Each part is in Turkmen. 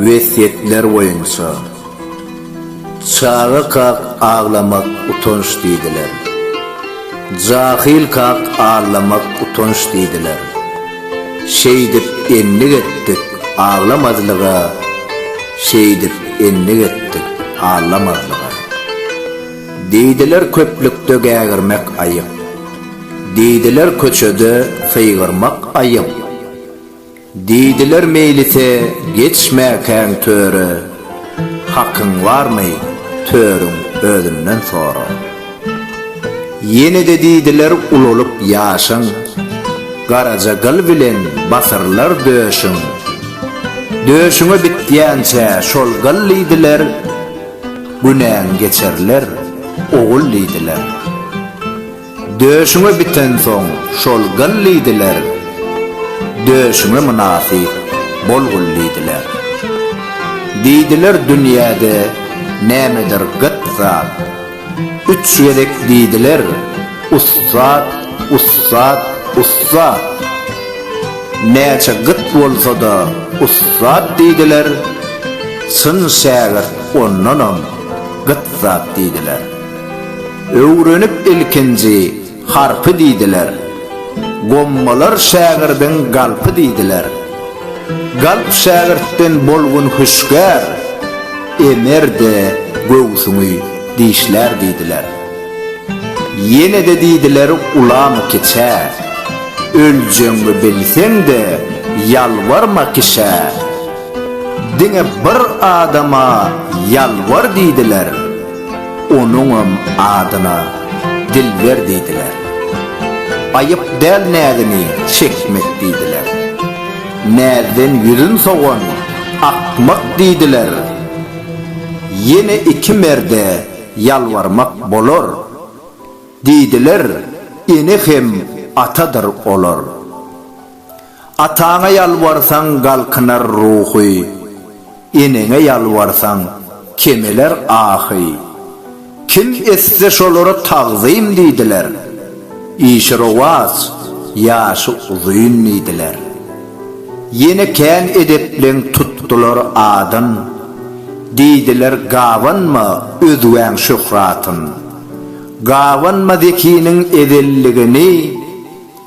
Wesýetler boýunça, Çaga kak aglamak utanç diýdiler. Jahyl kak aglamak utanç diýdiler. Şeýdip endik etdik, aglamazlyga, Şeýdip endik etdik, aglamazlyga. Diýdiler köplükde gägirmek aýyp, Diýdiler köçede sygyrmak aýyp. Diýdiler meýlise geçmäkäň töre, Hakyň barmy, törüň özünden sora. Ýene-de diýdiler ulalyp ýaşyň, Garaja gyl bilen basyrylar döşüň. Döşüňe bitýänçä şol gyl diýdiler, Günäň geçerler, ogul diýdiler. Döşüňe bitensoň şol gyl diýdiler, Döşüňe mynasyp bol gul diýdiler. Diýdiler dünýäde nämedir gyt zat, Üç gezek diýdiler, ussat, ussat, ussat. Näçe gyt bolsa-da ussat diýdiler, Çyn şägirt ondanam gyt zat diýdiler. Öwrenip ilkinji harpy diýdiler. Gommalar şägirdiň galpy diýdiler. Galp şägirtden bolgun hüşgär, Emer-de göwsüňi dişlär diýdiler. Ýene-de diýdiler ulamy kiçä, Öljegiňi bilseň-de ýalbarma kişä. Diňe bir adama ýalbar diýdiler. Onuňam adyna Dilber diýdiler. Aýyp däl näzini çekmek diýdiler. Näzden ýüzün sowan akmak diýdiler. Ýene iki merde ýalbarmak bolar. Diýdiler, ene hem atadyr olar. Ataňa ýalbarsaň galkynar ruhy, Eneňe ýalbarsaň kemeler ahy. Kim etse şolara tagzym diýdiler, Işi rowaç, ýaşy uzyn diýdiler. Ýene kän edepleň tutdular adyn, Diýdiler gabanma özgäň şöhratyn. Gabanma zekiniň ezelligini.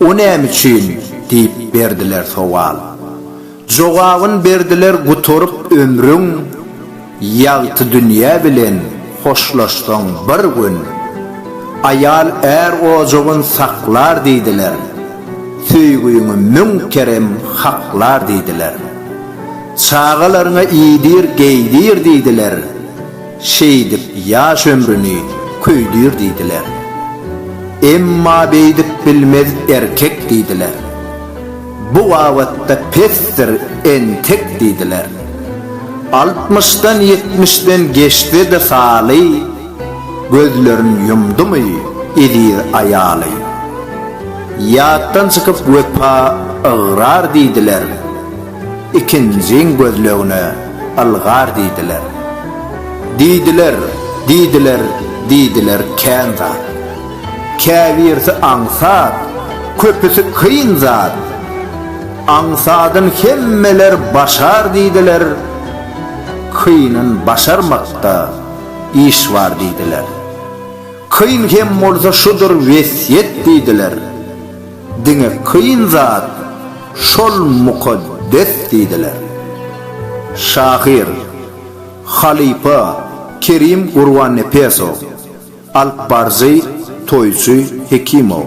O näme üçin? diýip berdiler sowal. Jogabyn berdiler Gutaryp ömrüň, ýagty dünýe bilen hoşlaşsaň bir gün. Aýal är ojagyn saklar diýdiler, söýgüňi müň kerem haklar diýdiler. Çagalaryňa iýdir, geýdir diýdiler. Şeýdip ýaş ömrüni köýdür diýdiler. Emma beýdip bilmez erkek diýdiler. Bu babatda pesdir entek diýdiler. Altmyşdan-ýetmişden geçse-de haly, gözlerin ýumdumy eziz aýaly. Ýatdan çykyp wepa ygrar diýdiler. Ikinjiň gözlegine ylgar diýdiler. Diýdiler, diýdiler, diýdiler kän zat. Käbirsi aňsat, köpüsi kyn zat. Aňsadyn hemmeler başar diýdiler, kynyn başarmakda iş bar diýdiler. Kyn hem bolsa şudur wesýet diýdiler. Diňe kyn zat şol mukaddes diýdiler. Şahyr, halypa Kerim Gurbannepesow, alypbaryjy Toýçy Hekimow.